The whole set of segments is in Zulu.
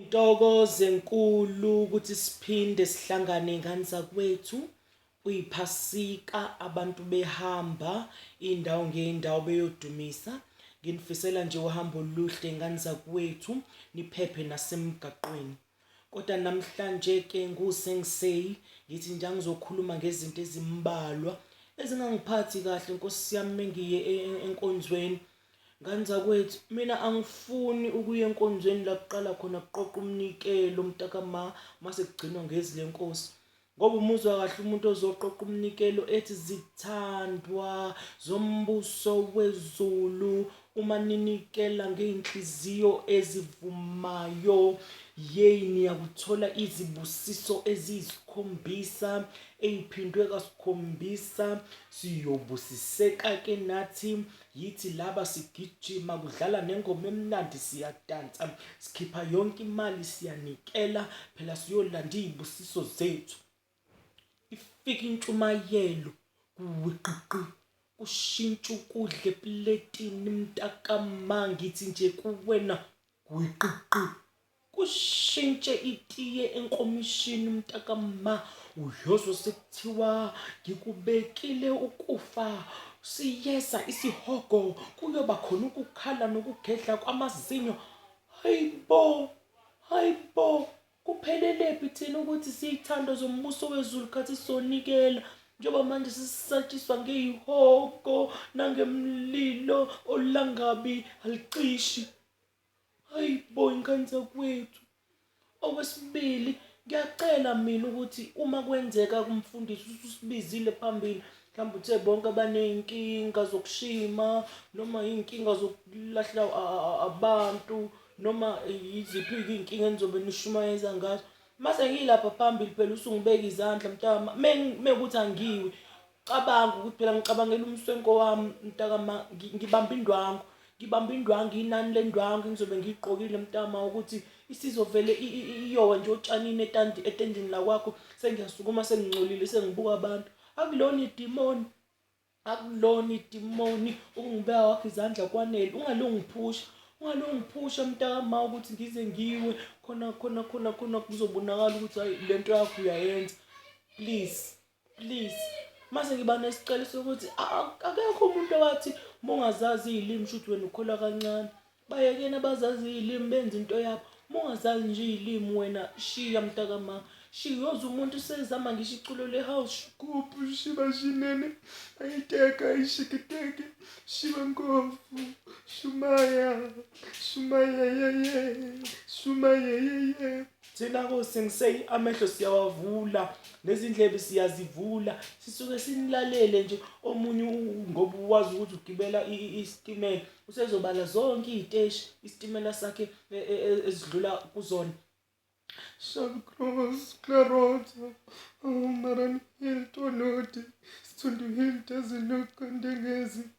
Ntokozo enkulu ukuthi siphinde sihlangane ngani zakwethu kuyiphasika abantu behamba indawo ngeindawo beyodumisa nginifisela nje uhambo oluhle ngani zakwethu niphephe nasemgaqweni kodwa namhlanje ke ngusengiseyi ngithi nje angizokhuluma ngezinto ezimbalwa ezingangiphathi kahle nkosi yami mengiye e-, e-, enkonzweni Ngane zakwethu, mina angifuni ukuya enkonzweni la kuqala khona kuqoqa umnikelo mntakama mase kugcinwa ngezi lenkosi. Ngoba umuzwa kahle umuntu ozoqoqa umnikelo ethi zithandwa zombuso wezulu uma ninikela ngey'nhliziyo ezivumayo yeyi niyakuthola izibusiso eziyisikhombisa ey'phindwe kasikhombisa siyobusiseka-ke nathi Yithi laba sigijima kudlala nengoma emnandi siyadansa sikhipha yonke imali siyanikela phela siyolanda izibusiso zethu ifika intshumayelo kuwiqiqi kushintsha ukudla epuletini mntakamma ngithi nje kuwena gwiqiqi kushintshe itiye enkomishini mntakamma uyozwa sekuthiwa ngikubekile ukufa siyeza isihogo kuyoba khona ukukhala nokugedla kwamazinyo hayi bo hayi bo kuphelelephi thina ukuthi siyithando zombuso wezulu khathi sonikela njengoba manje sisatshiswa ngeyihogo nangemlilo olangabi aliqishi Hayi bo ingane zakwethu. Okwesibili ngiyacela mina ukuthi uma kwenzeka kumfundisi ususibizile phambili mhlawumbe uthe bonke abaney'nkinga zokushima noma iy'nkinga zokulahla abantu noma yiziphi-ke iy'nkinga enizobe nishumayeza ngazo mase ngiyilapha phambili phela usungibeka izandla mntama mekuthi angiwi cabanga ukuthi phela ngicabangela umswenko wami mntakama ngibamba indwangu ngibamba indwangu inani lendwangu engizobe ngiyigqokile mntama ukuthi isizovele iyowa nje otshanini etendini lakwakho sengiyasukuma sengingcolile sengibuka abantu akulona idimoni akulona idimoni ukungibeka wakho izandla kwanele ungalungiphusha ungalungiphusha mntakama ukuthi ngize ngiwe khona khona khona khona kuzobonakala ukuthi hayi le nto yakho uyayenza please Please mase ngiba nesicelo sokuthi akekho umuntu owathi uma ungazazi iy'limi kushuthi wena ukholwa kancane bayekeni abazazi iy'limi benza into yabo uma ungazazi nje iy'limi wena shiya mntakamama shiyoza umuntu usezama ngisho iculo le-house kuphi shiba shinene ayiteka ayishikiteke shiba ngovu shumaya shumayeyeye shumayeyeye thina ko sengisey amehlo siyawavula nezindlebe siyazivula sisuke sinilalele nje omunye ngoba wazi ukuthi ugibela isitimela usezobala zonke iziteshi isitimela sakhe e, e, e, ezidlula kuzona Shall cross Clarota, Umaran Hill Tolodi, Stundu Hill Taziluk Ndengezi,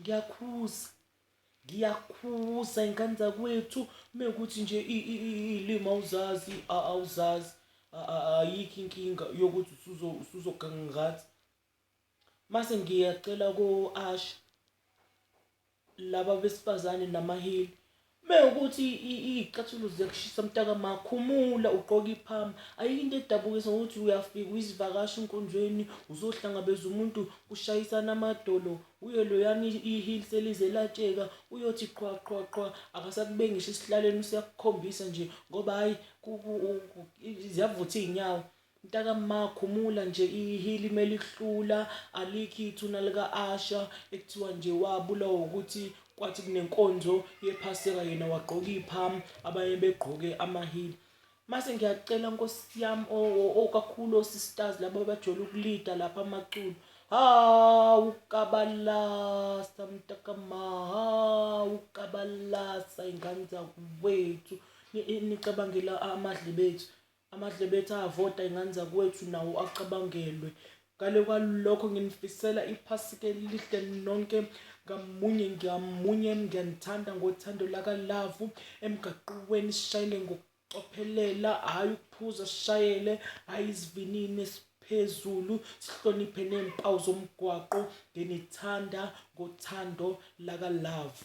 ngiyakhuza ngiyakhuza ingane zakwethu mekuthi nje iy'limi awuzazi awuzazi ayikho inkinga yokuthi usuzoganga ngathi mase ngiyacela ko-asha laba besifazane namaheli Mewukuthi iyicathulo ziyakushisa mtaka ma khumula ugqoke iphama ayikho into edabukisa ngokuthi uyafika uyisivakashi enkonzweni uzohlangabeza umuntu kushayisana amadolo uye loyani i-heel selize latsheka uyothi qhwa qhwa qhwa akasakube ngisho esihlalweni useyakukhombisa nje ngoba hhayi ziyavutha iy'nyawo Mtaka ma khumula nje ihili melihlula alikho ithuna lika Asha ekuthiwa nje wabulawa ukuthi kwathi kunenkonzo yephaseka yena wagqoka ipham abanye begqoke amahili mase ngiyacela nkosi yam okakhulu osisters laba bajwayele ukulida lapha amaculo hawu kabalasa mtaka ma hawu kabalasa ingane zakwethu nicabangela amadlebe ethu Amadlebe ethi avota ingane zakwethu nawo acabangelwe. Ngale kwalokho nginifisela iPhasika elihle nonke ngamunye ngamunye. Ngiyanithanda ngothando lakalavu. Emgaqweni shayele ngokucophelela, hhayi ukuphuza, shayele hhayi isivinini esiphezulu. Sihloniphe nezimpawu zomgwaqo. Nginithanda ngothando lakalavu.